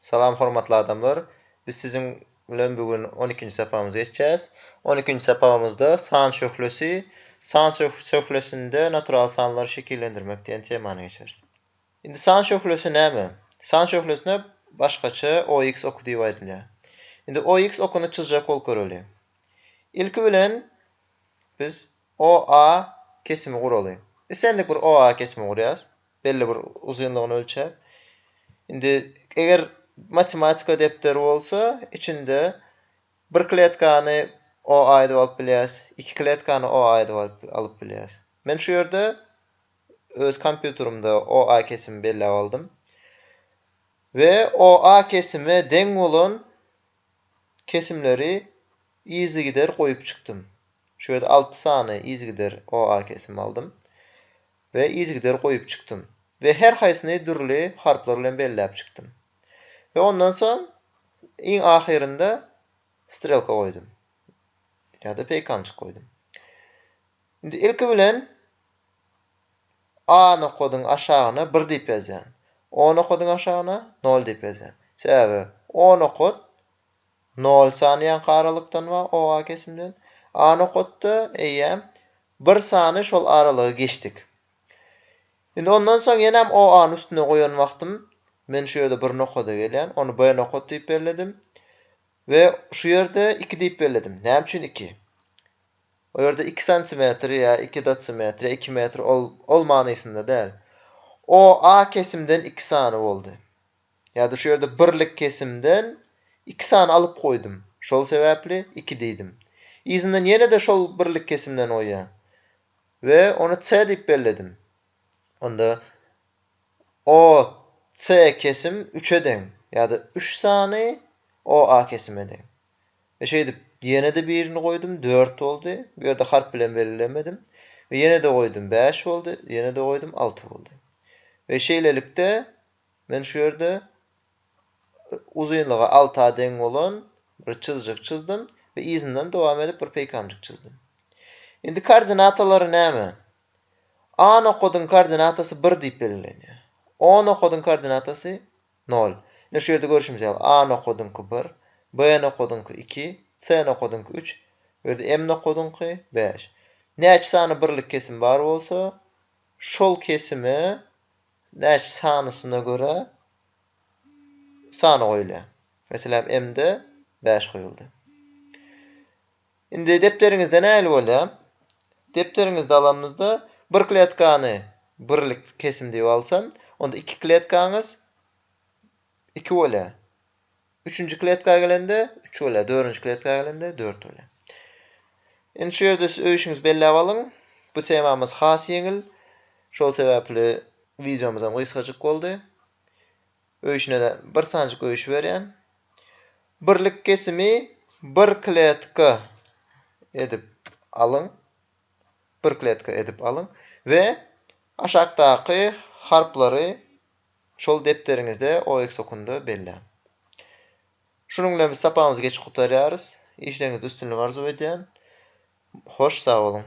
Salam hormatly adamlar! Biz siziň bilen bu gün on ikinji sapagymyzy geçýäs. On ikinji sapagymyzda San şöhlesi, San şöhlesinde natural sanlary şekillendirmek diýen temany geçeris. Indi San şöhlesi näme? San şöhlesine başgaça OX oky diýip aýdylýar. Indi OX okuny çyzjak bolup göreli. Ilki bilen biz OA kesimi guraly. Islendik bir OA kesimi gurýas. belli bir uzynlygyny ölçäp. Indi eger matematika depderi bolsa, içinde bir kletkany o aýdyp alyp bilýäs, iki kletkany o aýdyp alyp alyp bilýäs. Men şu ýerde öz kompýuterimde o a kesimi belläp aldym. We o a kesime deň bolan kesimleri yzygider goýup çykdym. Şu ýerde alty sany yzygider o a kesimi aldym. we yzygider goýup çykdym we her haýsyny dürli harplar bilen belläp çykdym we ondan soň iň ahyrynda strelka goýdum ýa-da peýkamjyk goýdum. Indi ilki bilen A nokadyň aşagyna bir diýip ýazýan. O nokadyň aşagyna nol diýip ýazýan. Sebäbi O nokat Nol sany ýa garalykdan wa oa kesimden a nokatda, eýýäm, bir sany şol aralygy geçdik. Indi ondan soň ýenem oany üstüne goýan wagtym, men şu ýerde bir nokada gelýän, ony b nokat diýip belledim we şu ýerde iki diýip belledim. Näme üçin iki? O ýerde iki santimetr ýa iki dotsimetr ýa iki metr ol, ol manysynda däl. Oa kesimden iki sany boldy. Ýa-da şu ýerde birlik kesimden iki sany alyp goýdum. Şol sebäpli iki diýdim. Yzyndan ýene-de şol birlik kesimden goýýan. We ony C diýip belledim. Onda OC kesim üçe deň. Ýa-da üç sany OA kesime deň. We şeýdip, ýene-de birini goýdum, dört boldy. Bu ýerde harp bilen belgilemedim. We ýene-de goýdum, bäş boldy. Ýene-de goýdum, alty boldy. We şeýlelikde Men şu ýerde uzynlygy alty a deň bolan bir çyzjyk çyzdym we yzyndan dowam edip bir peýkamjyk çyzdym. Indi koordinatalary näme? A nokadyň koordinatasy bir diýip belgilenýär. O nokadyň koordinatasy nol. Ine şu ýerde görşümiz ýaly A nokadyňky bir, B nokadyňky iki, C nokadyňky üç, bu ýerde M nokadyňky bäş. Näçe sany birlik kesim bar bolsa, şol kesime Näçe sanysyna görä sany goýulýar. Meselem, M-de bäş goýuldy. Indi depderiňizde nähili bolýar? Depderiňizde alamyzda bir kletkany birlik kesim diýip alsam, onda iki kletkaňyz iki bolýar. Üçünji kletka gelende, üç bolýar. Dördünji kletka gelende, dört bolýar. Indi şu ýerde siz öýşiňizi belläp alyň. Bu temamyz has ýeňil. Şol sebäpli wideomyz hem gysgajyk boldy. Öýşine bir sanjyk öýşi berýän. Birlik kesimi bir kletka edip alyň. Bir kletka edip alyň we aşakdaky harplary Şol depderiňizde oeksokunda belläň. Şunuň bilen biz sapagymyzy geçip gutarýarys. Işleriňizde üstünlik arzuw edýän. Hoş sag boluň.